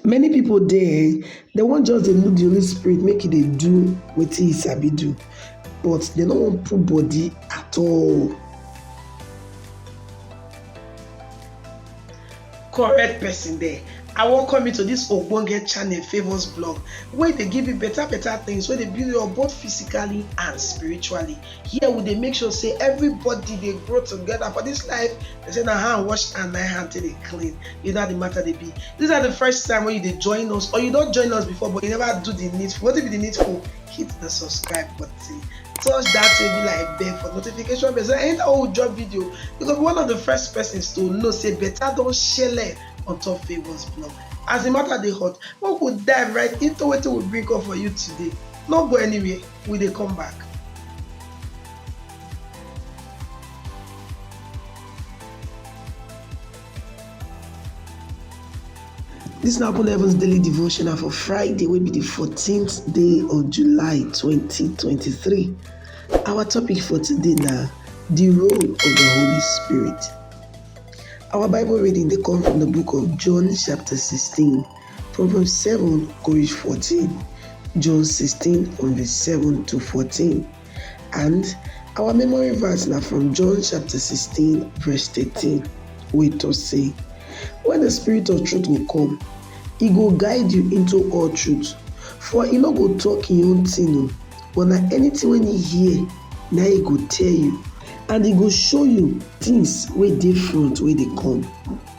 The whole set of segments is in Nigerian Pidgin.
Many people dey um they wan just dey look the Holy Spirit make e dey do wetin he sabi do but they no wan put body at all. correct person there i welcome you to this ogbonge channel favours blog wey dey give you better better things wey dey build you up both physically and spiritually Here we dey make sure say everybody dey grow together for this life. They say na hand wash and na hand till dey clean. You know how the matter they be. This is the first time when you dey join us or you don't join us before but you never do the needful. What if the needful? Hit the subscribe button. Touch that table like bell for notification bell. So anytime we drop video, you go be one of the first persons to know say better don't share on top Favour's blog. As the matter they hot, we could dive right into what we bring up for you today. No go anywhere. we dey come back This na Open Heavens Daily Devotional for Friday, will be the 14th day of July 2023. Our topic for today now the role of the Holy Spirit. Our Bible reading they come from the book of John, chapter 16. Proverbs seven kò reach fourteen, John sixteen from verse seven to fourteen and our memory verse na from John chapter sixteen verse thirteen wey talk say when the spirit of truth go come, e go guide you into all truth for e no go talk im own thing o but na anything wey e hear na e go tell you and e go show you things wey dey front wey dey come.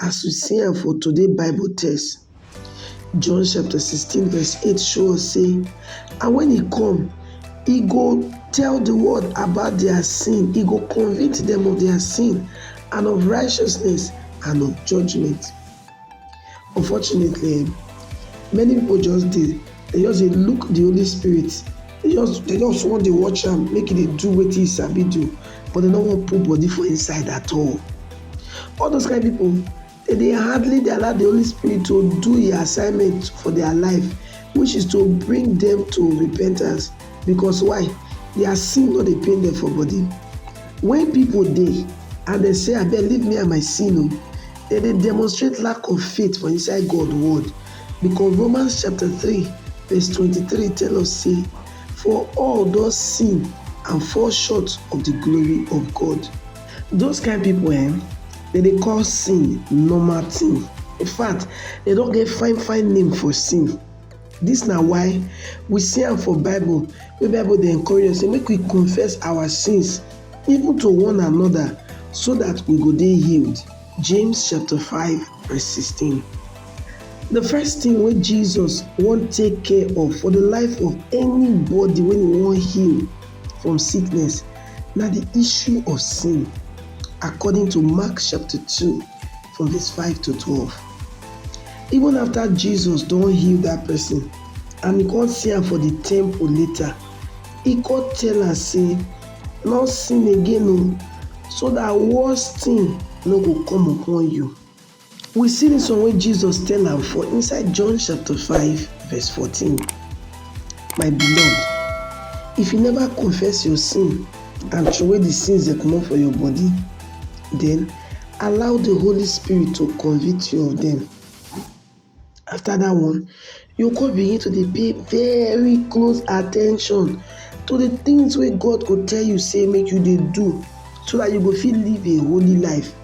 As we see am for today Bible text, John chapter 16 verse 8 show us say, and when he come, he go tell the world about their sin, he go convince them of their sin and of righteousness and of judgment. Unfortunately, many people just dey they just dey look the Holy Spirit They just they just wan dey watch am make e dey do wetin e sabi do but they no wan put body for inside at all. All those kind people they dey hardly dey allow the Holy Spirit to do e assignment for their life which is to bring them to repentance because why? Their sin no dey pain them for body. When people dey and they say abeg leave me and my sin o, they dey demonstrate lack of faith for inside God word. Because Romans chapter three verse twenty-three tell us say, For all don sin and fall short of the glory of God. Those kind people eh, dem dey call sin normal thing. In fact, dem don get fine fine name for sin. This na why we see am for Bible wey Bible dey encourage us say make we confess our sins even to one another so that we go dey healed. James chapter 5 verse 16. The first thing wey Jesus wan take care of for the life of anybody wey he wan heal from sickness na the issue of sin according to Mark chapter 2 from verse 5 to 12. Even after Jesus don heal that person and he come see am for the temple later, he come tell am say No sin again o, so that worse thing no go come upon you. We see this one wey Jesus tell am for inside John chapter 5 verse 14. My beloved, if you never confess your sin and throway the sins dem comot for your body, then allow the Holy Spirit to convict you of them. after that one you go come begin to dey pay very close at ten tion to the things wey God go tell you say make you dey do so that you go fit live a holy life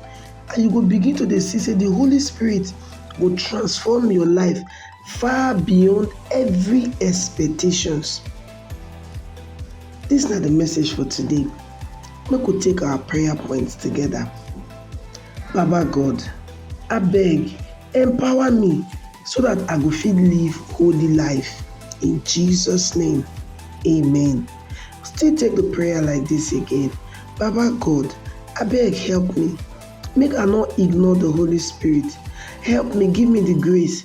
and you go begin to dey see say the Holy Spirit go transform your life far beyond every expectations. This na the message for today. Make we take our prayer points together. Baba God, abeg empower me so that I go fit live holy life in Jesus name, amen. Still take the prayer like this again, Baba God, abeg help me make I no ignore the Holy Spirit, help me give me the grace